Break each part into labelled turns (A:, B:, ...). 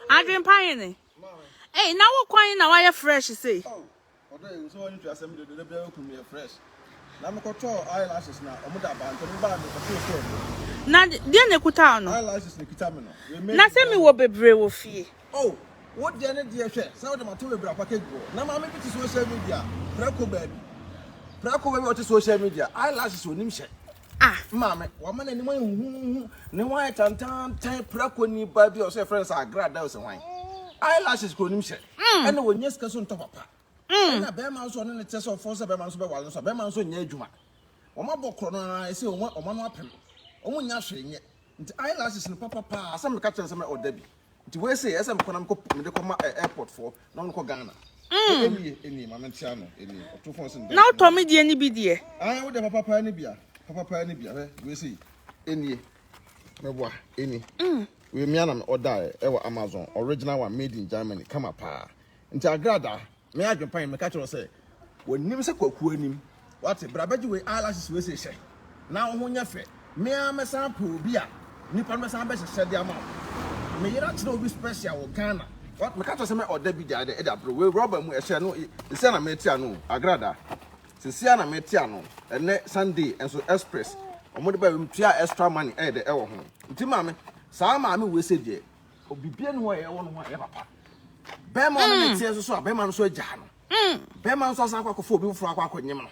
A: Adwene pa he ne. Ei, na wo kwan na wayɛ fresh sei. Oh, ɔdɔ yi
B: nso wɔn asɛm de dede bia okunu yɛ fresh. Na me kɔtɔ eyelashes na ɔmo da ba ntɛm ba me kɔtɔ so ɔmo. Na
A: deɛ na ekuta ɔno. Eyelashes na ekuta me no.
B: Na sɛ mi wɔ bebree
A: wɔ fie. Oh, wo
B: deɛ ne deɛ hwɛ sɛ wode ma to bebree package bɔ. Na maame bi te social media prɛko baabi. Prɛko baabi ɔte social media eyelashes onim hyɛ. Ah! Me maame,
A: wama n'anim
B: ayɛ huhuhu, ne ho ayɛ tantantan, prako ni ba bi a ɔsɛ yɛfrɛ no sɛ agra da ɔsɛ hwan. Eyelashes kuro nim hyɛ, mm. ɛna wɔnyɛ sika so ntɔ papa. Mm. Ɛna bɛrima nso ɔne ne tɛ sɛ ɔfɔ sɛ bɛrima nso bɛwale nso a bɛrima nso nyɛ adwuma. Wɔn abɔ korɔ no ara ɛsɛ wɔn ano apem, wɔn nyɛ ahwee nyɛ. Nti eye lashes no papa paa. Asɛm meka kyerɛ no sɛ mɛ order bi. Nti wei sei ɛsɛ mekɔ na mekɔ mede kɔ ma ɛ airport foɔ na wɔn kɔ Ghana. Mm. Ɛnie ɛnie maame nte ano ɛnie ɔto fon sɛ Na wotɔ me deɛ no bi
A: deɛ. Ae wode papa paa no
B: bia papa paa no bia hwɛ wei sei ɛnie mɛboa ɛni Mm. wei mea na me order ɛ ɛwɔ Amazon original one made in Germany kama paa nti agradaa Me adwempan, meka kyerɛ wo sɛ, wɔnnim sɛ Kwaku anim. Woate? Bra bɛgye wei eyelashes wei seihyɛ na wo ho nyɛ fɛ. Me ara mɛsan apɛ obi a nnipa no bɛsan bɛhyehyɛ de ama wo. Me yere akyerɛ obi special wɔ Ghana. Woate? Meka kyerɛ wo sɛ mɛ ɔda bi gyae dɛ de abrɛ wo. Wei rɔba mu ɛhyɛ no seesei ara na mete ano o, Agrada. Seesei ara na mete ano. Ɛnnɛ Sunday nso express wɔde bae wei metuaa extra money ɛyɛ dɛ ɛwɔ ho. Nti maame, saa maame wei sei deɛ, Obibia ni hɔ a ɛwɔ no ho a ɛyɛ papa. Bɛrima ɔne ne teɛ nso so a bɛrima no so agyaa no. Bɛrima nso asan akɔ akɔfa obi foforɔ akɔ akɔnyem no.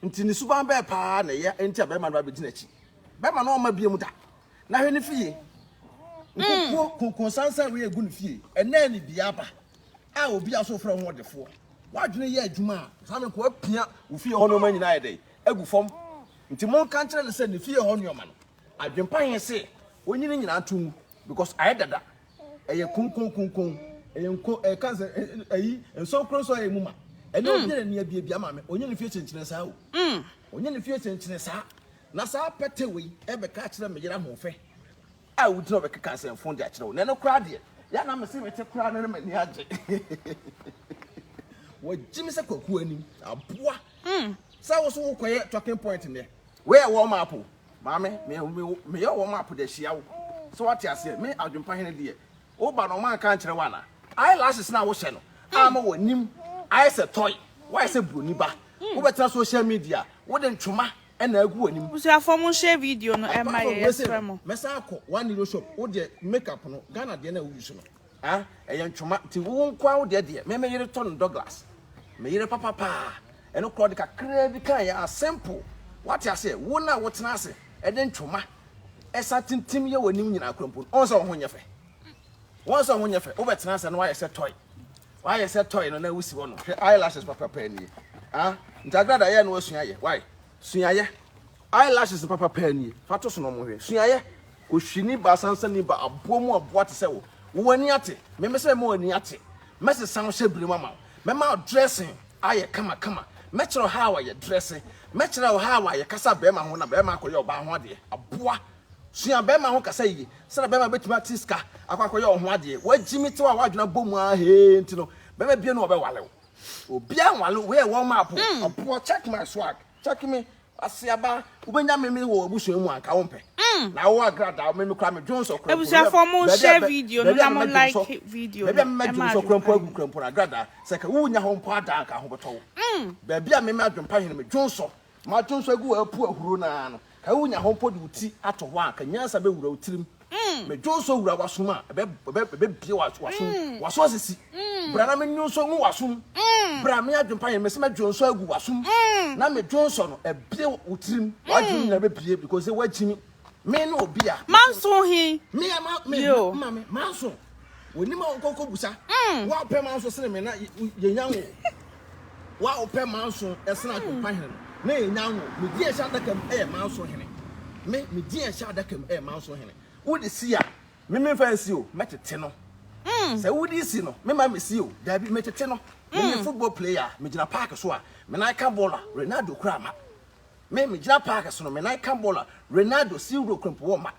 B: Nti ne suban bɛɛ paa na ɛyɛ nti a bɛrima no abɛdi n'akyi. Bɛrima no ɔmma biam da. Na hwɛ ne fie. Nkokoɔ konkonsansan wei a ɛgu ne fie. Ɛnɛɛ ne bia aba a obi a so frɛ ho ɔdefoɔ. W'adwene yɛ adwuma a, saa ne nkoa pia wo fie hɔ nnoɔma nyinaa ayɛ dɛn? Agu fam. Nti monka nkyerɛ no sɛ ne fie hɔ nnoɔma no, Adwenpa he se onyi ne nyinaa to ngu because ayɛ dada, ɛyɛ konkon konkon, ɛyɛ nko ɛka sɛ ayi nsonkron nso ayɛ mu ma. Ɛnyɛ obi na nea biabia ma me, onyi ne fie kyenkyene saa o. Onyi ne fie kyenkyene saa. Na saa pɛtɛ wei ɛbɛka akyerɛ me yere ahoɔfɛ a wogyina ɔbɛkeka nsɛmfon de akyerɛ wo. Na ɛno koraa deɛ, yɛ a na mese mete koraa no na m'ani agye. Wɔagye me sɛ Kwaku anim aboa. Sɛ wo so wokɔyɛ talking point nnɛ, wei ɛwɔ map o, Maame, me me wo, meyɛ wɔn app de ahyia wo. So wate aseɛ? Me adwempa hene deɛ, woba no wɔn anka ankyerɛ wo anaa? Eyelashes no a wohyɛ no ama w'anim ayɛ sɛ toy, woayɛ sɛ buroni ba. Wobɛtena social media, wode ntwoma na agu w'anim. Busuafoɔ mo nhyɛ video
A: no Apart mma from yɛn wei sei yɛsrɛ no, mo. mɛsan akɔ
B: one euro shop, wo deɛ makeup no, Ghana deɛ no a wo use no. Ah ɛyɛ ntwoma nti wo nkoaa wo deɛ deɛ me me yere tɔ no Douglas me yere papa paa ɛno koraa ɔde kakraa bi kaeɛ a simple wate aseɛ wo na wo tena ase ɛde ntwoma ɛsan tintim yɛ w'anim nyinaa koraa mpo no ɔnsɛ wo ho nyɛ fɛ wɔn sɛ ho nyɛ fɛ wobɛ tena ase no wayɛ sɛ toy wayɛ sɛ toy no na wusi hɔ no hwɛ eyelashes papa paa nie ah nti agrada yɛ no wasua yɛ why sua yɛ Eye lashes papa paa nie, fa to so na ɔmo nhwɛ. Suayɛ, ohwini ba sansani ba aboa mu aboa te sɛ wo, wo w'ani ate, me me sɛ mema w'ani ate, mɛsesa wo hyɛ bere mu ama wo, mɛma wo dressing ayɛ kama kama, mɛkyerɛ wo how a yɛ dresse, mɛkyerɛ wo how a yɛ kasa bɛɛma ho na bɛɛma akɔ yɛ ɔbaa ho adeɛ, aboa, sua bɛɛma ho kasa yie, sɛdeɛ bɛɛma bɛtumi ate sika akɔ akɔ yɛ ɔho adeɛ, w'agyimi tew a w'adwene abɔ mu aa hee nti no bɛɛma biaa ni hɔ a ɔbɛwale wo, obiaa nwale wo, wei yɛ warm up o, aboa, check my swag. Check me, Asiaba, wobɛnya meme wɔ w'abusua mu anka wompɛ. Na wo agradaa, meme kora me dwonsɔ kora mpo. Abusuafoɔ mo share
A: video no na mo like video no. Baabi a meme adwonsɔ kora
B: mpo agu kora mpo no agradaa, sɛ ka wo nya hɔ mpo a da anka ho bɛtɔ wo. Baabi a meme adwempa hene me dwonsɔ, m'adwonsɔ agu wɔ apu ahuro no ara no. Ka wunya hɔ mpo de wo ti ato hɔ a, ka nyansa bɛwura wo tirim. Me dwonsɔ wura w'asom a, ɛbɛbue w'asom. W'aso asisi. Bra na me nnwonsɔ ngu w'asom. Bra, me adwempa yɛn, mese mɛdwonsɔ agu w'asom. Na me dwonsɔ no abue wo tirim. W'adwenem nyinaa bɛbue because sɛ woagye me. Me ne obi a. Manso he?
A: Me a ma, me,
B: ma me, manso. W'anim a wonkɔ nkɔbusa. Woapɛ manso sene me na yɛnya wo. Wo a wopɛ manso sen atompa hene na yɛnya nwo Me din a ɛhyɛ adaka mu yɛ manso hene Me, me din a ɛhyɛ adaka mu yɛ manso hene Wode si a, me memfa nsi o, mɛtete no Sɛ wode si no, memma mesi o, daabi, metete no Meyɛ football player a, megyina park so a, me nan ka bɔɔl a, Ronaldo kura ma Me, megyina park so no, me nan ka bɔɔl a, Ronaldo si wura kura mpo wɔ ma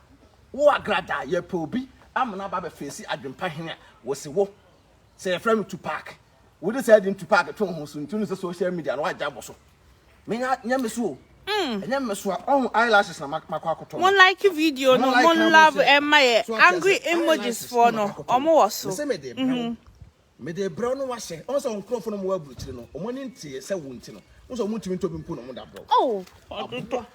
B: Wo agradaa, yɛpɛ obi amena aba abɛfeesi adwempa hene a, Wɔsi wo. Sɛ yɛfrɛ no Tupac. Wode saa din Tupac to ho so nti no sɛ social media no wagya bɔ so. Menya nyɛ me so o. Mm. Ɛnyɛ me so a ɔho eyelashes na makɔ akɔtɔ. Mo like video
A: no, mo love ɛma yɛ angry emojis foɔ no, ɔmo wɔ so. Mesɛ mede brɛ wo.
B: Mede brɛ wo no wahyɛ. Ɔho sɛ nkorɔfo no mo wɔ aburukyiri no, ɔmo ani nteɛ sɛ wo nti no. Wo sɛ ɔmo ntumi ntɔ bi mpo na ɔmo da brɛ wo. Oh, ɔdodo.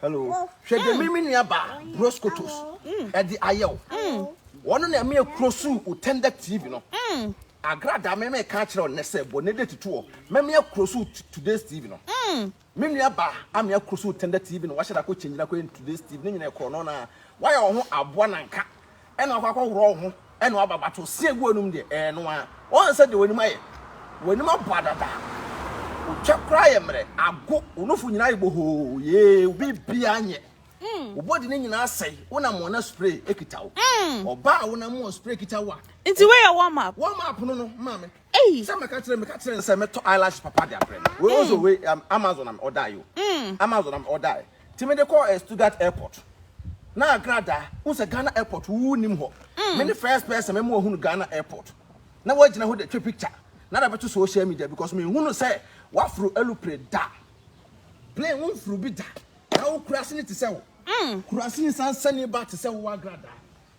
B: hello hwɛ deɛ mm. mimi nua ba bros kotos mm. ɛde ayɛ o mm. wɔn na ɛmɛ kuro so otɛndɛ tv no agrada mɛmɛ ka kyerɛ ɔnɛ sɛ bɔ ne de tutu hɔ mɛmɛ akuro so today's tv no me nua ba amɛ akuro so otɛndɛ tv no wahyɛ dako kyɛn gyina kɔ yɛ today's tv ne nyina ɛkorɔ no na wayɛ wɔn ho aboa nanka. Ɛna wakɔ akɔworɔ wo ho ɛna waba but ɔse agu w'anum deɛ ɛyɛ no ara woahu sɛ deɛ w'anim ayɛ w'anim abɔ adada otwa koraa yɛ mmerɛ ago wo nofo nyinaa ayɛ bohoo yee wo biribiara nyɛ wo body no nyinaa asɛe wonam wɔn na spray ekita wo ɔbaa a wonam wɔn spray kita wo a nti woyɛ warm
A: up warm up no no maame
B: sɛ mɛka kyerɛ mɛka kyerɛ nsɛ mɛtɔ eyelash papa de abrɛ no wei ɔsɛ wei amazon am ɔdae o amazon am ɔdae Nti mede kɔɔ eh Stuttgart airport na agrada wohu sɛ Ghana airport wo nnim hɔ me ne first person me ma ɔhunu Ghana airport na wagyina hɔ de twa picture na de abɛto social media because me nhunu sɛ waforo alupre da plane wo nforo bi da na wo kuraase no te sɛ wo kuraase nsan sani ba te sɛ wo agrada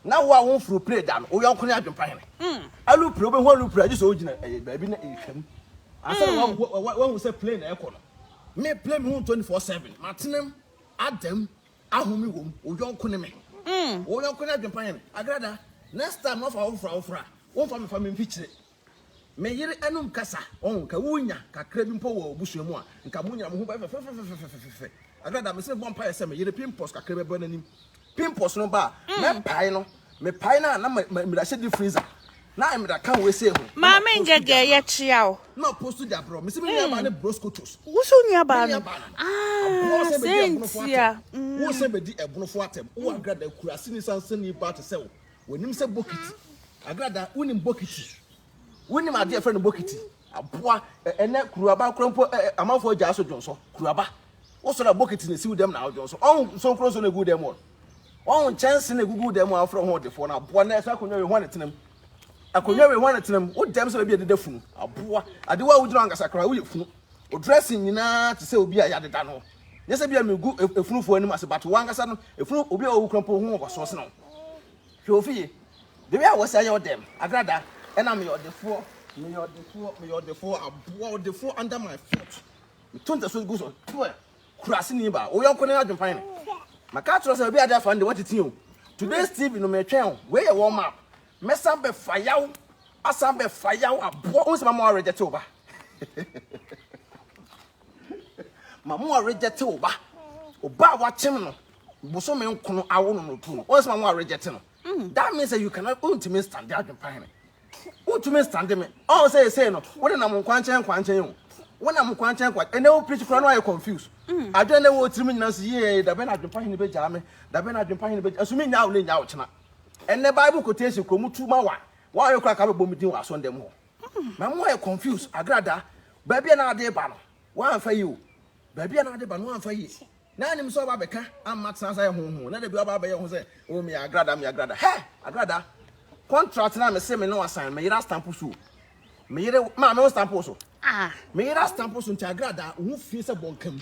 B: Na wo a wo mforo pire da no, wo yɔnko ne adwempa hene. Alu pire, wobɛhu alu pire a, gye sɛ wogyina baabi na ɛretwa mu ansa na woahu sɛ plane na ɛrekɔ no. Me, plane mehu no 24 seven. M'atenem, adam, ahome wɔ mu, wo yɔnko ne me. Wo yɔnko ne adwempa hene. Agrada, next time na woafa awofra awofra a, womfa me fa me mfikyire. Me yere anom kasa, oh, nka wunya kakra bi mpo wɔ abusua mu a, nka mo nyinaa mo ho bɛyɛ fɛfɛfɛfɛfɛfɛfɛfɛ. Agrada, mese no, bɔ mpaeɛ sɛ me yere pimples kakra bɛba n'anim. Pimples no ba a, mɛpae no. Mepae no a, na meda hyɛ deep freezer. Na meda ka wei sei ho. Maame Ngege,
A: yɛkyea wo. Na ɔpostu gya brɛ
B: wo. Mese me nuabaa ne Bros Kotos. Wo so nuabaa no?
A: Ah, sɛ ntia. Wo sɛ bɛdi
B: ɛbonofoɔ atɛm. Wo Agrada, kuraseni sansani baa te sɛ wo. Wɔnim sɛ bokiti, agradaa, wonim bokiti, wonim adeɛ a ɛfrɛ no bokiti, aboa, ɛnɛ kuruaba kora mpo amanfoɔ agyaa so dwonsɔ, kuruaba. Wosɔre a bokiti na ɛsi wo dɛm na awodwonsɔ. Ɔho nsonkuro nso na ɛgu dɛm wɔ. Ɔho nkyɛnse na ɛgugu dɛm a wofrɛ ho ɔdefoɔ no aboa na ɛsɛ akonnwa wei ho ne tenam. Akonnwa wei ho ne tenam. Wo dɛm sɛ baabi a ɛdeda funu, aboa. Adewa a wogyina ankasa koraa woyɛ funu. Wo dressing nyinaa te sɛ obi a yɛadeda no. Nyɛ sɛ bia megu efunufoɔ anim ase but wankasa no efunu obi a ɔwu kura mpo ho mfasoɔ sene wo. Hwɛ ofi yi. The way a wɔsi ayɛ wo dɛm agrada ɛna meyɛ ɔdefoɔ meyɛ ɔdefoɔ meyɛ ɔdefoɔ aboa ɔdefoɔ under my foot. Meto ntaso gu so twɛ kura sini ba wo yɔnko ne adwempan no. Maka akyerɛ sɛ obi ade afa no de watete o. Today's TV no metwɛn o. Wei yɛ warm up. Mɛsan bɛfa yaw asan bɛfa yaw aboa wo nsɛm ama wo arejɛte wo ba. Mamu a reject wo ba. O ba a wakyem no bosome nkono awo no no tu no. What's mamu a reject no? Mm. That means that you cannot untumi stand adwen pa hene. Untumi stand me. Oh say say no. Wo na mo nkwankyɛn nkwankyɛn o. Wo na mo nkwankyɛn nkwankyɛn. Ene wo preach kura no ayɛ confused. Mm. Adwen na wo tirim nyina so yee da bɛ na adwen pa hene bɛ gyaa me. Da bɛ na adwen pa hene bɛ. Asumi nya wo ne nya wo kyena. Ene Bible quotation kromu tu ma wa. Wa ayɛ kura ka bɛ bɔ me din wa asɔndɛm ho. Na mo ayɛ confuse agrada baabi a na ade ba no wamfa yi o baabi a na ade ba no wamfa yi na anim sɛ ɔba bɛka amma tena sɛ ho ho na da bi ɔba abɛyɛ ho sɛ o me agrada me agrada hɛ agrada contract na me se me no asan me yera stamp so me yere ma me stamp so ah me yera stamp so nti agrada wo ho fi sɛ bɔnkam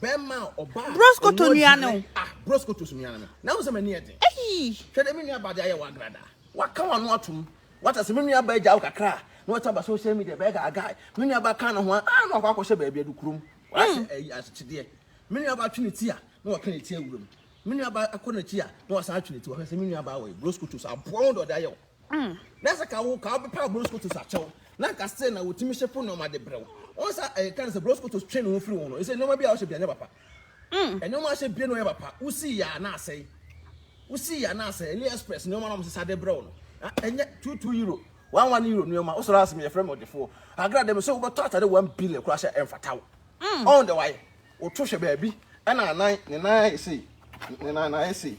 A: Bɛrima a ɔbaa. Broskoto nua no. Ah, broskoto so nua
B: no. Na wo sɛ m'ani yɛ den. Eyi. Hwɛ dɛ me nua ba de ayɛ wagrada. Waka wano atom. Wata sɛ me nua ba agya wo kakra a, na wata ba social media bɛyɛ gaagaa. Me nua ba ka ne ho a, ah, na wakɔ akɔhyɛ baabi adu kurom. Wahyɛ mm. ayi ahyekyedeɛ. Me nua ba twe ne ti a, na waka ne ti awuram. Me nua ba akɔ n'akyi a, na wasan atwe ne ti. Wɔhwɛ sɛ me nua ba wɔ broskoto so aboa wo dɔde ayɛ wo. Mm. Na sɛ ka wo ka wobɛpaw Broskotos akyɛw na anka still na wotumi hyɛ fo nneɛma de brɛ wo. Wɔn sa ɛyɛ ka no sɛ Broskotos twe ne ho firi wo ho no ɛsɛ nneɛma bi a ɔhyɛ bia nyɛ papa. Mm. Nneɛma a hyɛ bia no yɛ papa. Wosi yɛ a na asɛe. Wosi yɛ a na asɛe. Ali Express nneɛma na wɔn sesa de brɛ wo no. Na ɛnyɛ two two euro. One one euro nneɛma. Wosɔre asem yɛ frɛ me ɔdefoɔ. Agra dɛ me sɛ wobɛtɔ atade one billion koraa hyɛ ɛmfata wo. Mm. Ɔn dɛ wayɛ. Woto hwɛ baabi ɛna anan ne nan ayɛ sei. Ne nan na ayɛ sei.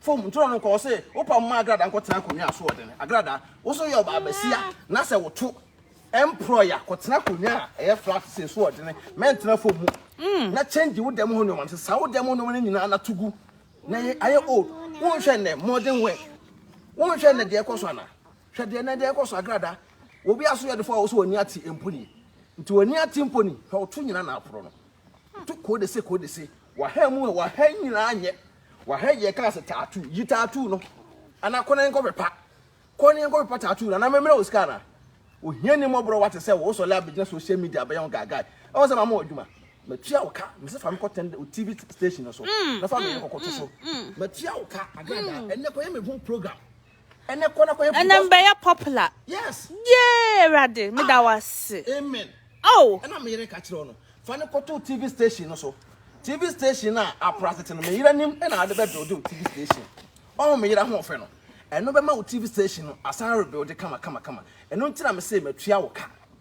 B: Fam ntoro no nkɔ, ɔse wopam ma agradaa nkɔ tena akonwa so ɔdene agradaa woso yɛ ɔbaa basia na sɛ woto ɛmprɔy a kɔ tena akonwa a ɛyɛ flat se so ɔdene mɛntena fam mu mm. na change wo dɛm ho nneɛma no sesa wo dɛm ho nneɛma no nyinaa na tugu na yɛ ayɛ old wonhwɛ nnɛ modern wear wonhwɛ nnɛ deɛ ɛkɔ so ana hwɛ deɛ nnɛ deɛ ɛkɔ so agradaa obi aso yɛ defo a wɔso wɔni ate mpo ni nti wɔni ate mpo ni hwɛ woto nyina na aporɔ no to kɔɔ de se kɔɔ de se waha mu a waha nyinaa nyɛ Waha yi yɛkaa sɛ tattoo, yi tattoo no anaa kɔ na yɛnkɔ pepa, kɔ na yɛnkɔ pepa tattoo no anaa memmrɛ wo sika anaa? Ohia ni mmɔborɔ wate sɛ wo sɔle abɛgyina social media abɛyɛ ho gaagae. Ɛwɔ sɛ mama wo adwuma. Matua wo ka, mese fa me kɔ tɛn wo TV station no so na fa me yere kɔkɔto so. Matua wo ka, Agrada, ɛnnɛ kɔyɛ me ho program. ɛnɛ kɔ na kɔ yɛ ɛnɛ because mbɛyɛ popular
A: yes yee
B: awurade
A: meda ah, wase amen
B: oh ɛna meyere
A: ka kyerɛ no
B: fa ne kɔto tv station no so tv station a apra tete no meyere nim ɛna ade bɛbuild tv station ɔho meyere ho ɔfɛ no ɛno bɛma wo tv station no asan rebuild kama kama kama ɛno nti na mesɛ matua wo ka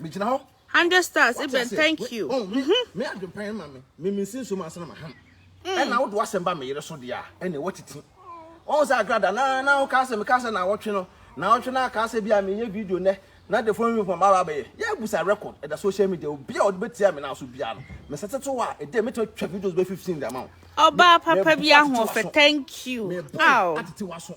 B: megyina hɔ hundred stars ibɛn
A: thank you mhm me adwempɛn
B: ma me me me nsi nso ma asena ma ham ɛna wodo asɛm ba me yere so deɛ a ɛne wɔtete wɔn sɛ agrada na na woka sɛ meka sɛ na wɔtwe no na wɔtwe no aka sɛ bi a meyɛ video nɛ na de fɔn wimpɔ ma babɛyɛ yɛ abusa record ɛda social media obi a ɔde bɛtia me na so bia no mesɛ tete wɔ a ɛdɛ mɛtumi atwa videos bɛ 15 de ama wo ɔbaa papa bi
A: ahoɔfɛ thank you aw atete wɔ so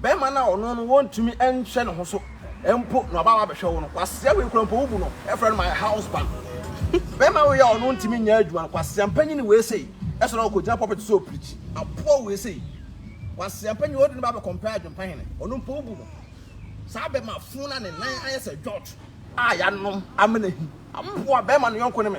B: Bɛrima no a ɔno no wontumi nhwɛ ne ho so mpo na ɔba abɛhwɛ wo no, kwasea wei kura mpo wo bu no, frɛ no my husband. Bɛrima wei a ɔno ntumi nyɛ adwuma no, kwasea mpanyin wei sei, ɛsɛ na ɔkɔgyina pulpit so ɔpirikyi, aboa wei sei. Kwasea mpanyin wode no ba abɛkɔmpɛ adwempa hene, ɔno mpo wo bu no. Saa bɛrima fo no a ne nan ayɛ sɛ George a yɛanom amena hi, aboa bɛrima no yɔnko ne me.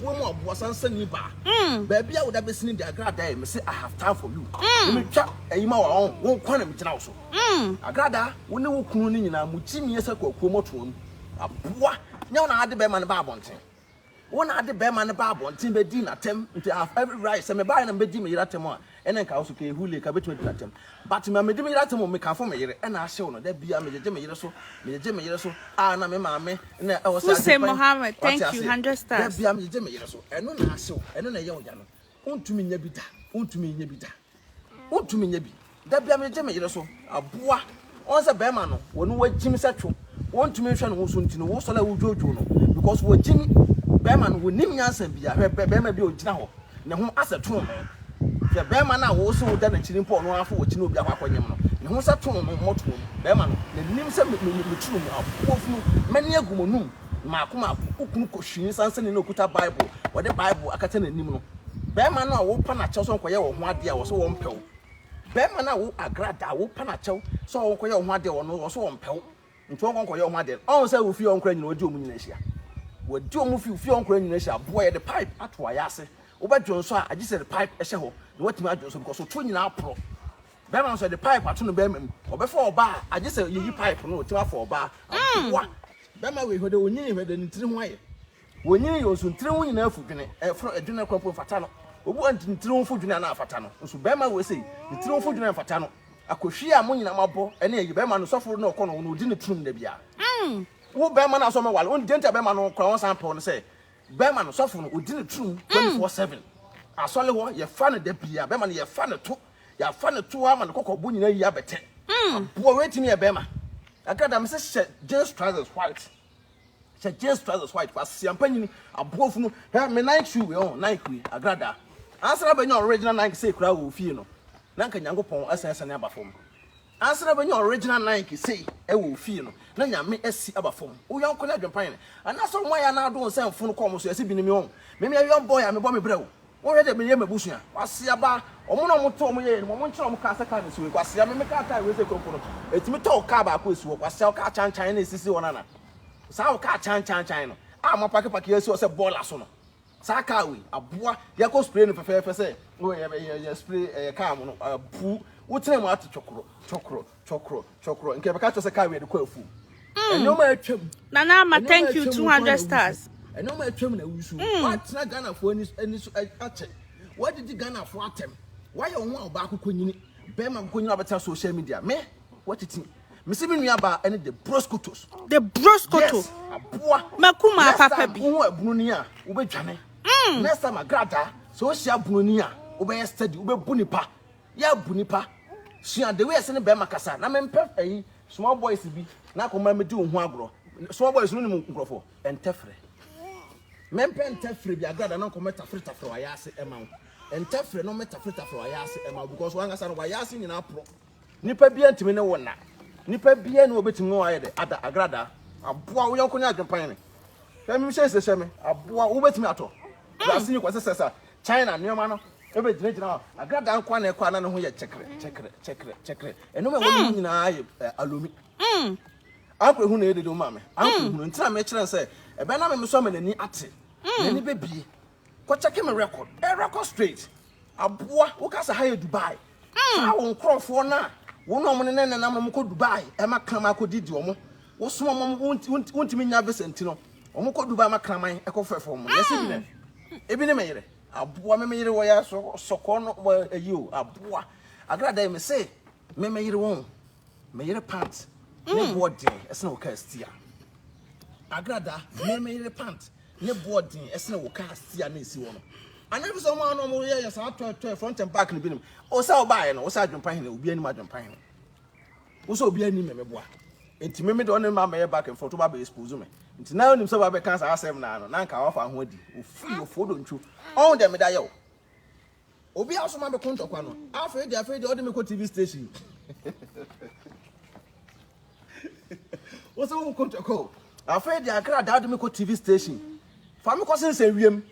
B: Boa mu a boa san sɛ ni ba. Baabi a wo da bɛsi ni de agradaa yi me se I have time for you ne me twa ɛyi ma wa ɔn wo nkwa na me gyina wo so. Agradaa wo ne wo kunu no nyinaa mo gyi miɛ sɛ kwakuo mɔtoa mu. Aboa nyɛ wo na ade bɛɛma no ba abɔnten wo na ade bɛɛma no ba abɔnten bɛ di na tɛm nti I have every right sɛ me baɛ na me bɛ di me yere atɛm a. Ɛna nka wo so kee hule ka betumi adi no atem but ma medi me yere atem o me kanfo me yere ɛna ahyew no da bia me gyegye me yere so me gyegye me yere so a na me maame na ɛwɔ sɛ agye pɛn wate
A: aseɛ da bia me gyegye me yere so
B: ɛno na ahyew ɛno na ɛyɛ ɔya no wontumi nya bi da wontumi nya bi da wontumi nya bi da bia me gyegye me yere so aboa Ɔn sɛ bɛɛma no wɔ no wagyim sɛ two wɔntumi nhwɛ ne ho so nti no wo sɔre a wo dwodwo no because wagyim bɛɛma no wɔnim nyansa bia hwɛ bɛɛma bi a ɔgyina hɔ ne ho asɛ too no hwɛ bɛɛma no a wo se wo da n'akyiri mpo ɔno ara fo wɔkyi na obi akɔ akɔnyem no ne ho sɛ too no mmɔto wɔ mu bɛɛma no nanim sɛ meturu mu afuo funu mɛne agu mo num maako maako wo kunu kɔ hwii nsansani na okuta bible wɔde bible akata n'anim no bɛɛma no a wo pa n'akyɛw sɛ ɔnkɔyɛ wɔ ho adeɛ a wɔ sɛ wɔmpɛw Bɛrima no a wo agradaa, wo pɛ no akyɛw sɛ ɔwɔ nkɔyɛ wo ho adeɛ wɔ no, ɔwɔ so ɔmpɛ wo, nti ɔnkɔ nkɔyɛ wo ho adeɛ no, ɔnhu sɛ wo fie hɔ nkora nyina wadi ɔmo nyina ahyia. Wadi ɔmo fi wo fie hɔ nkora nyina ahyia, boɔ yɛde pipe ato ayɛ ase, wo bɛ dwonsɔ a agye sɛ yɛde pipe hyɛ hɔ na watumi adwonsɔ because ɔtoɔ nyina aporɔ. Bɛrima no nso yɛde pipe ato no bɛrima mu, ɔbɛfa ɔbaa a agye sɛ yɛyi pipe no na watumi afa ɔbaa, aboa. Bɛrima wei hwɛ dɛ ɔnyini hwɛ dɛ ne tiri ho ayɛ. Wonyini yɛ ɔsontiriw nyinaa fudwene, ɛforo adwene no kora mpo mfata no. Obu antintiriw fudwene a na afata no, nso barima wei sei, ne tiriw fudwene mfata no. Akohwi a mo nyinaa moabɔ ne ayi barima no, sɔfo na ɔkɔ no, na ɔdi no turum da biara. Mm, wo barima no asɔ me wale, wonnim deɛ nti a barima no kora wɔnsan mpɛ wo no sɛ, barima no, sɔfo no, ɔdi no turum 24 seven. Asɔre hɔ, yɛfa no da biara, barima no, yɛfa no to, yɛafa no to ara ma ne kɔkɔbo nyinaa ayi abɛtɛ. Mm. Aboa wei tumi yɛ barima. Agatha, mese hyɛ jeans trousers white, Sɛ Jesus trousers white pa sia mpa nyini aboa funu hwɛ me Nike shoe wei ɔn Nike wei agradaa ansa na bɛnya original Nike sei koraa wɔ ofie no na nka Nyankopɔn asan asiane aba fam ansa na bɛnya original Nike sei ɛwɔ ofie no na Nyame asi aba fam wo yɔnko ne adwempan ne anasa ɔmo ayɛ anaadon sɛ mfon kɔ ɔmo so yɛse binom ɔn meme a young boy a mebɔ me brɛ o Wɔyɛ dɛ meyɛ mabusua kwasea ba wɔn na wɔn to wɔn yɛyɛ no mu wɔn nkyerɛ wɔn kaa sɛ kaa no si hɔ yi kwasea me me kaa kaa wei sɛ kuro mpo no ɛtumi tɔ wo kaa baako ɛsi hɔ kwasea wo kaa kyan kyan na ɛsisi hɔ nana saa wo kaa kyan kyan kyan no a mo apake pake ɛsi hɔ sɛ bɔɔla so no saa kaa wei aboa yɛkɔ spray no fɛfɛɛfɛ sɛ yɛ yɛ spray ɛyɛ kaa mo no apu wo tena mu ate twɔkorɔ twɔkorɔ Twɔkrɔ, twɔkrɔ, nka yɛbɛka kyerɛ sɛ kaa wei de kɔ afuom. Mm. Ɛnneɛma a atwam. Nana ama thank
A: you 200 stars. Ɛnneɛma a atwam na awu
B: so. Mm. Woatena Ghanafoɔ ani, ani so akyɛ. Woadidi Ghanafoɔ atɛm. Woayɛ wo ho a ɔbaako kɔnyini. Bɛrima kɔnyini a ɔbɛtena social media. Me, woatiti. Mese me nua baa ɛne the broskotos. The broskoto. Yes, aboa. Makuma papa bi. Next
A: time, wo ho abunu ni a,
B: wobɛdwane. Mm. Next time, agradaa. Sɛ wohyia abunu ni a, wobɛyɛ steady, wobɛbu nipa. yɛ abu nipa sua the way ɛsɛ ne bɛrima kasa na mempɛ ɛyi small boys bi na akɔma medi wo ho agorɔ small boys no nim nkurɔfoɔ ɛntɛfrɛ mempɛ ntɛfrɛ bi agrada na nkɔmɛ tafere tafere wayɛ ase ɛma wo ntɛfrɛ na ɔmɛ tafere tafere wayɛ ase ɛma wo because wankasa no wayɛ ase nyinaa porɔ nipa bia ntumi ne wo nna nipa bia ne wɔbɛtumi ne wɔayɛ dɛ ada agrada aboa wo yɔnko ne adwempan ne hwɛ me hyɛ nsɛ hyɛ me aboa wobɛtumi atɔ yɛase ne kɔsɛ sɛ sa China nneɛma no bɛgyinagyina hɔ. Agradaa nko ara na ɛkɔ a na ne ho yɛ kyɛkerɛ kyɛkerɛ kyɛkerɛ kyɛkerɛ. Nneɛma a ɛwɔ ne mu mm. nyinaa yɛ eh, alumi. Mm. Ankora ehunu na ɛyɛ dede ma me. Ankora mm. ehunu nti na mekyerɛ no sɛ ɛbɛn na meme so ama n'ani ate. N'ani bɛbie. Kɔkyɛke me record. Ɛ eh, record straight. Aboa woka sɛ ha yɛ Dubai. Saa wo nkurɔfoɔ no a wone wɔn nenam na wɔn kɔ Dubai ma kraman kɔ didi wɔn, wo soma wɔn wo ntumi nya visa nti no, wɔn kɔ Dubai ma kraman kɔ fɛfɛ wɔn, yɛse bi nɛ, ebi ne me yere, aboa me me yere wɔ yɛ aso sɔkɔɔ no wɔ ayi o, aboa, agra dɛn me se me me yere wɔn, me yere pant, ne boɔ den, ɛsene wo kaa stia, agra da, me me yere pant. ne bo ɔden ɛsene wo kaa sia na esi hɔ no anaa bi sɛ ɔmo ano ɔmo yɛ yɛ saa tɔɛ tɔɛ front and back no bi nim ɔsɛ ɔbaa yɛ no ɔsɛ adwempa hene obi anim adwempa hene ɔsɛ obi anim mɛmɛ boa nti mɛmɛ de ɔne mma mɛyɛ back and front ɔba bɛ expose me nti na ɔnim sɛ ɔba bɛ kan saa asɛm naa no na nka wafa ho adi ofiri ofo dontwo ɔn dɛ meda yɛ o. Obi a ɔsoma me ko ntɔkwa no, afei deɛ afei deɛ ɔde me kɔ TV station. Wosɛ wo ko ntɔkwa o. Afei deɛ agradaa ɔde me kɔ TV station. Fa me kɔ sensɛn wiem.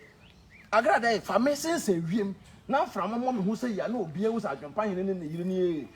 B: Agradaa yi, fa me sensɛn wiem. Na mframa mmɔ me ho sɛ yia na obiara hu sɛ adwempa hene ne ne yere nie.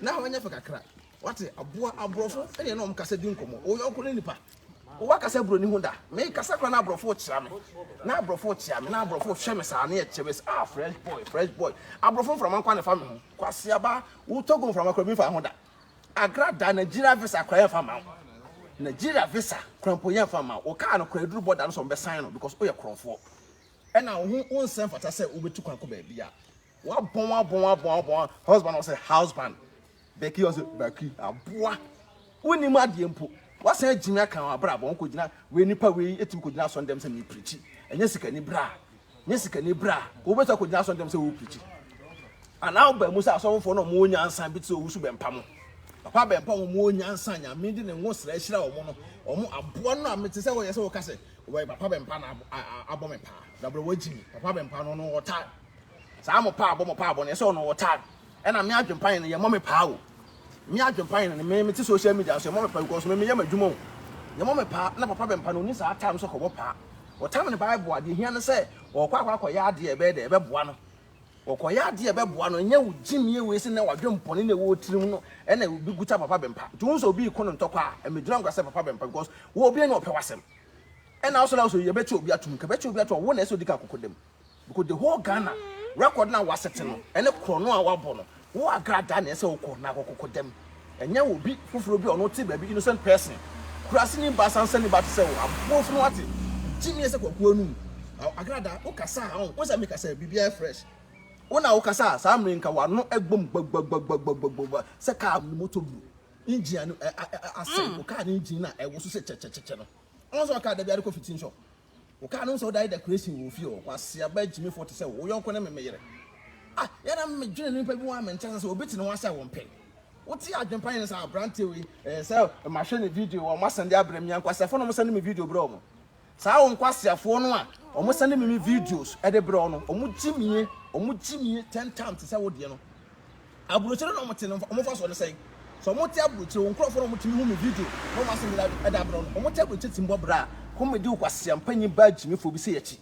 B: Na hɔ nyɛ fɛ kakra. Wate, aboa, aborɔfo ne yɛne wɔn kasa di nkɔmmɔ. Wo yɔnko ne nipa. Woakasa buroni ho da? Mekasa koraa na aborɔfo rekyea me. Na aborɔfo rekyea me, na aborɔfo rehwɛ me saa, na yɛkyɛ me sɛ, ah, fresh boy, fresh boy. Aborɔfo mframa nko ara na ɛfa me ho. Kwaseaba, wo Togo mframa koraa bi mfaa ho da. Accra da, Nigeria visa koraa yɛmfa mma wo. Nigeria visa koraa mpo yɛmfa mma wo. Wo kaa no koraa ɛduru bɔda no so wɔbɛsan no because woyɛ korɔmfoɔ. Ɛna wo ho wonsɛ mfata sɛ wobɛtu kwan kɔ baabi a. Wabɔn abɔn abɔn abɔn husband ɔsɛ husband bɛki ɔsɛ bɛki aboa
C: wonim adeɛ mpo wasan agyimi aka wɔn abrabɔ wɔn kɔgyina wei nipa wei ɛtumi kɔgyina asɔn dɛm sɛ mepirikyi ɛnyɛ sikani bra nyɛ sikani bra wɔbɛtumi akɔgyina asɔn dɛm sɛ wɔpirikyi anaa ɔba mu sɛ asɔnfoɔ no ɔmo nyansa bi te sɛ ɔwusu bɛmpa mo papa bɛmpa wɔn ɔmo nyansa nyame de ne ngo srɛ ahyira wɔn no ɔmo aboa no a mete sɛ wɔyɛ sɛ wɔka sɛ wɔyɛ papa bɛmpa na abɔ me paa dabrɛ wɔagyimi papa bɛmpa no no ɔtaa Saa mo paabɔ mo paabɔ no yɛ sɛ ɔno wɔ time ɛna me adwenpan no yɛ mɔ me paa o me adwenpan no me me te social media nso yɛ mɔ me paa because me me yɛ m'adwuma o yɛ mɔ me paa na papa bɛmpa no ɔni saa time sɛ kɔbɔ paa ɔtam ne bible adeɛ hia no sɛ ɔkɔ akɔ akɔyɛ adeɛ ɛbɛyɛ dɛ ɛbɛboa no ɔkɔyɛ adeɛ ɛbɛboa no ɛnyɛ wo gyimie wei sɛ na wadwen pɔne na ɛwɔ tirim no ɛna obi guta papa bɛmpa nti wo sɛ obi kɔ no ntɔkɔ a ɛmɛgyina nkwa sɛ papa bɛmpa because wo obi ne ɔpɛ wasɛm ɛna wo sɛ na wo sɛ yɛbɛkye obi atom ka bɛkye obi atom wo na ɛsɛ ɔdi ka akokɔdam Because the whole Ghana record na wasete no ɛne korɔno a wabɔ no wo agradaa na ɛsɛ wokɔ na akɔkɔkɔ dɛm ɛnyɛ obi foforɔ bi a ɔno te baabi innocent person kura sini ba sansani ba te sɛ wo aboɔ funu wate. Gyimi ɛsɛ kwakuo anum agradaa wo kasa a wo sɛ me kasa biribi ayɛ fresh wo na wo kasa a saa mmerɛ nka wano ɛbom gbagbagbagbagbagba sɛ car no motor bu engine ano asɛe wo car no engine na ɛwoso sɛ kyɛkyɛkyɛkyɛ no ɔnsɛ car dabi ade kɔ fitting shop Wokaa no sɛ wodae decoration wɔ ofie hɔ, kwasea ba gyimifo te sɛ wo, wo yɔnko ne me me yere. Ah, yɛ na me dwene nipa bi ho a me nkyɛ sɛ sɛ obi te ne ho asɛ wɔn pɛ. Wo te adwene pa yɛn sɛ abranteɛ wei, ɛɛ sɛ ma hwɛ ne video wɔ wɔn asɛnde abrɛ me a nkwaseafoɔ na wɔn sɛnde me video brɛ wɔn. Saa wo nkwaseafoɔ no a wɔn sɛnde me me videos ɛde brɛ wɔn no, wɔn gyimie, wɔn gyimie tɛntam te sɛ wo deɛ no. Aburokyire na wɔte no wɔn mfasoɔ ne sɛn? Sɛ wɔte aburokyire, wo nkurɔfoɔ na wɔtumi hu me video na wɔn asɛm nyinaa ɛda abrɛ wɔn. Wɔte aburokyire te mbɔ bra. Comedy kwasia panyin baa gyimifoɔ bi sɛ yɛkyi.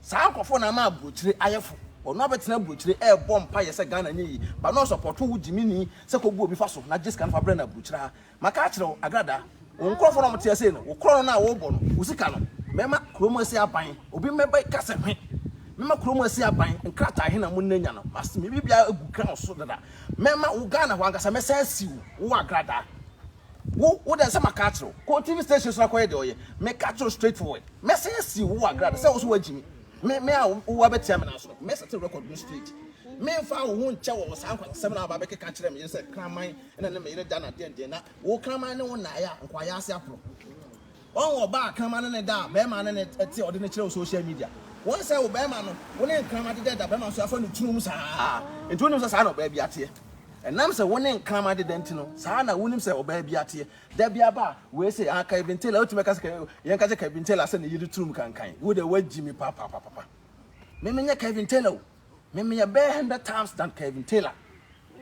C: Saa nkurɔfoɔ na ama aburokyire ayɛfo. Ɔno abɛtena aburokyire ɛɛbɔ mpaeɛ sɛ Ghana nyɛ yie. Ba na ɔsɔpɔto wo gyimini sɛ kɔbu obi faso na gye sika no fa brɛ no aburokyire ha. Maka akyerɛ wo, Agrada, wo nkurɔfoɔ no a wɔte ha sei no, wo korɔno no a worebɔ no, wo sika no, mɛma kuro mu asi aban. Obi mmɛbɛka sɛ hwe! Mɛma kuro mu asi aban, nkrataa he na mo nnɛnya no, masi me biribiaa agu ground so dada. Mɛma wo Ghana hɔ ankasa, mɛsan asi wo, wo Agrada. Wo, wo dɛ sɛ maka akyerɛ wo, kɔ TV station so na kɔyɛ deɛ ɔyɛ. Meka akyerɛ wo straight forward. Mɛsan asi wo, wo Agrada, sɛ wo so woagye mi. Me, me a wo aba tia me no aso, mɛsɛte record no straight. Memfaa wo ho nkyɛ wɔ wo saa nkwansasɛm no a woaba abɛkeka akyerɛ me yere sɛ kraman. Ɛna ne me yere da no atɛntɛn na wo kraman ne wo nae a nkwayɛ ase aporo. Wɔn ɔbaa kraman ne ne da a bɛrima ne ne te a ɔde ne kyerɛ wo social media. Wɔn sɛ wo bɛrima no wo ne nkraman deda da bɛrima nso afa no tunu mu saa. Nti wonim sɛ saa na ɔbaa bi ateɛ. Ɛnam sɛ wo ne nkraman deda nti no saa na wonim sɛ ɔbaa bi ateɛ. Da bi aba a wei se ah Kevin Taylor wotumi ka sɛ yɛn ka kyɛ Kevin Taylor sɛ ne yere tunu mu kankan. Wo deɛ woagyi me papapapapa. Me menyɛ Kevin Taylor o. Me meyɛ bɛyɛ hundred times than Kevin Taylor.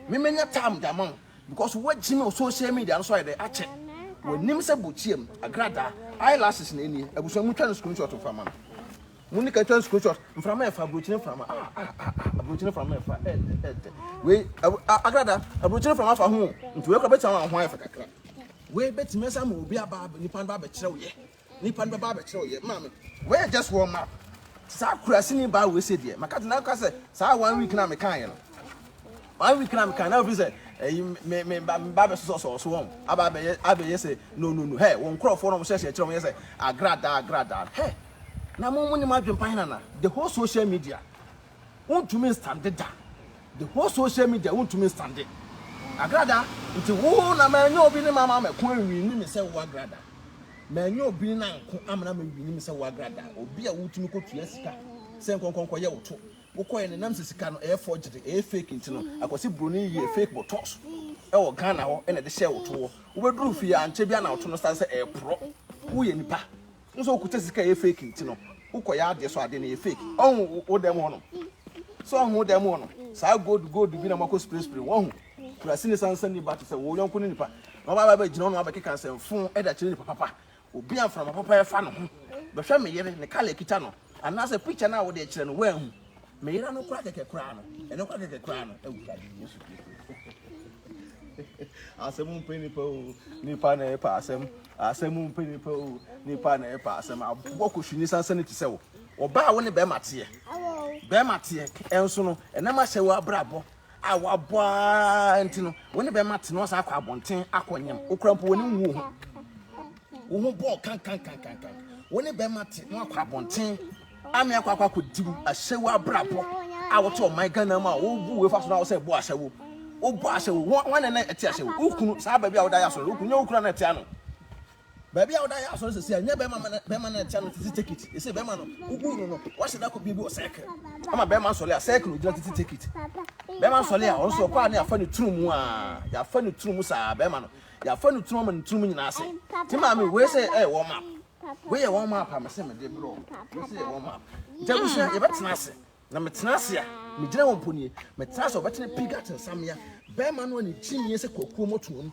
C: Me menya time de ama wo because woagyi me wɔ social media no so ayɛ dɛ akyɛ. W'anim sɛ bokyiam agradaa eyelashes na ɛnie. Abusua mu twa no screenshot mfa ma no. Mo ne ka twa no screenshot. Mframa yɛ fa aburokyire mframa ah ah ah ah aburokyire mframa yɛ fa ɛɛ tɛ ɛɛ tɛ. Wei agradaa aburokyire mframa fa ho o nti wei kora bɛtumi ama wo ho ayɛ fɛ kakra. Wei bɛtumi asa ama obi aba nipa no ba abɛkyerɛ wo yɛ. Nipa no bɛba abɛkyerɛ wo yɛ ma me. Wei yɛ just warm up. Saa kurasini baa wei sɛ deɛ maka te na ka sɛ saa one week na mekaa yɛ no. One week na mekaa na ofi sɛ ɛyi me me ba me ba bɛsosɔ sɔɔ so wɔn aba abɛyɛ abɛyɛ sɛ no no no hɛ wɔn nkorɔfoɔ na wɔn hyɛhyɛ kyerɛ wɔn yɛ sɛ agradaa agradaa hɛ na mo mo ne mo adwempa he nana the whole social media. Wontumi nstande da. The whole social media wontumi nstande Agrada nti wo na manyɛ obi ne mama mɛko anwini me sɛ wo Agrada. Manyɛ obi na nko amena mɛwini me sɛ wo Agrada. Obi a wotumi kɔtua sika sɛ nkɔnkɔ nkɔyɛ wo to. Wokɔyɛ no ɛnam sɛ sika no ɛyɛ forgery, ɛyɛ fake nti no akɔsi broni yɛɛ fake botox ɛwɔ Ghana hɔ ɛna ɛde hyɛɛ wo to hɔ. Wobɛduru fie a ankyɛ biara na wo to no sane sɛ ɛɛporɔ. Woyɛ nipa. Wohu sɛ wokuta sika a ɛyɛ fake nti no, wokɔyɛ adeɛ so adeɛ no yɛ fake. Ɔhu wo dan mu hɔ nom. Sɛ ɔhu wo dan mu hɔ no, saa gold gold bi na moakɔ spray spray mu. Ɔhu kura sini sansan ni ba te sɛ wo yɔnko ne nipa. Na ɔba aba gyina ɔno abɛkeka nsɛmfo ɛde akyerɛ nipa papa. Obi a mframa papa ɛfa ne ho. Bɛhwɛ me yere, ne kala ɛkita no. Anaasɛ picture no a wode kyerɛ no woanhu. Me yera no kora kɛkɛ koraa no. Ɛno kora kɛkɛ koraa no. Awurade Yesu Kristo. Asɛm mpɛ nipa o. Nipa na ɛpa asɛm. Asɛm mpɛ nipa o. Nipa na ɛpa asɛm. Aboa kɔhwini sansa ne ti sɛ wo. Ɔbaa wo ne bɛrima teɛ. Bɛrima teɛ. Ɛnso no, ɛnam ahyɛ wo abrabɔ. a wabɔ ara nti no wo ne bɛma te na ɔsan akɔ abɔnten akɔ nyam okura mpo wɔne nwu ho wo ho bɔɔ kankankankankan wo ne bɛma te na wakɔ abɔnten ame akɔ akɔ akɔ dibu ahyɛwo abrabɔ a wote ɔman Ghana mu a wobu wefa so na wosɛ bɔ ahyɛwo wobɔ ahyɛwo wɔn na ɛte ahyɛwo wokunu saa baabi a woda yɛ asɔre wokunu nyɛ wokura na ɛte ano Baabi a ɔda yɛ asɔre sɛsɛ a nyɛ bɛrima ma bɛrima na ɛkyɛ no tete tekit ɛsɛ bɛrima no wobu no no wahyɛ da kɔ bie bi wɔ sɛkere ama bɛrima nsɔle a sɛkere ogyina tete tekit bɛrima nsɔle a ɔno so ɔkɔ a ne yɛafa ne tunu mu a yɛafa ne tunu mu saa bɛrima no yɛafa ne tunu ama ne tunu mu nyinaa sɛ te maame wei sɛ ɛyɛ wɔn map wei yɛ wɔn map a mese mede brɛ wɔn mese yɛ wɔn map nti abusua yɛbɛtena ase Na metena ase a, megyina hɔ mpo nie. Metena ase a, ɔbɛtene Pigat nsamea. Bɛrima no a ne ti nie sɛ kwakuo mmɔtoa mu.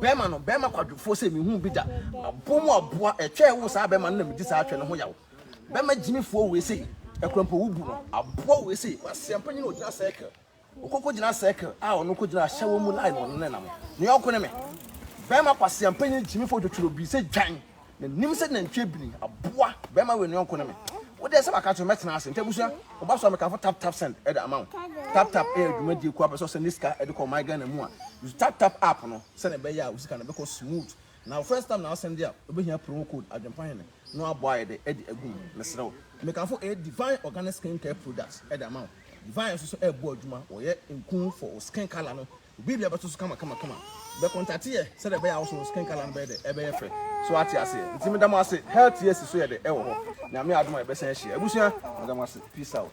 C: Bɛrima no, bɛrima kwadwofoɔ sɛ menhuu bi da. Aboɔ mu aboa, ɛtwa ɛwo saa bɛrima no na medi saa atwɛ no ho yaw. Bɛrima gyimifoɔ wei sei, ɛkorɔmpo wo bu no. Aboa wei sei, kwaseampanyini a ɔgyina circle. Wokɔkɔgyina circle a ɔno kɔgyina ahyɛ wɔn mu line wɔ no ne nam. Ne yɔnko ne me. Bɛrima kwasia mpanyin gyimifo odwotworo bi sɛ dwan. N'anim sɛ nantwi abini. Aboa, bɛrima wei ne yɔnko ne me. Wo deɛ sɛ maka akyerɛ wo mɛtena ase. Nti abusua, wo ba so a mekamfo Tap Tap Send de ama wo. Tap Tap yɛ dwumadie kuo a wopɛ sɛ wosɛnde sika de kɔ ɔman Ghana mu a, use Tap Tap app no sɛdeɛ ɛbɛyɛ a wo sika no bɛkɔ smooth Na first time na w'asɛm de a wobɛhia promo code adwempa hene na w'abɔ ayɛ dɛ ɛde agu mu mesrɛ wo. Mekamfo ɛyɛ Divine organic skin care products ɛde ama wo. Divine nso so ɛbɔ adwuma wɔyɛ nku for wo skin colour no obiabia bɛto so kama kama kama. Bɛ contact yɛ sɛdeɛ ɛbɛyɛ a wo nso wo skin colour no bɛyɛ dɛ ɛbɛyɛ fɛ so wate aseɛ nti meda mo ase health yɛsi so yɛ dɛ ɛwɔ hɔ nyame adom a yɛbɛsan ahyia abusua meda mo ase peace out.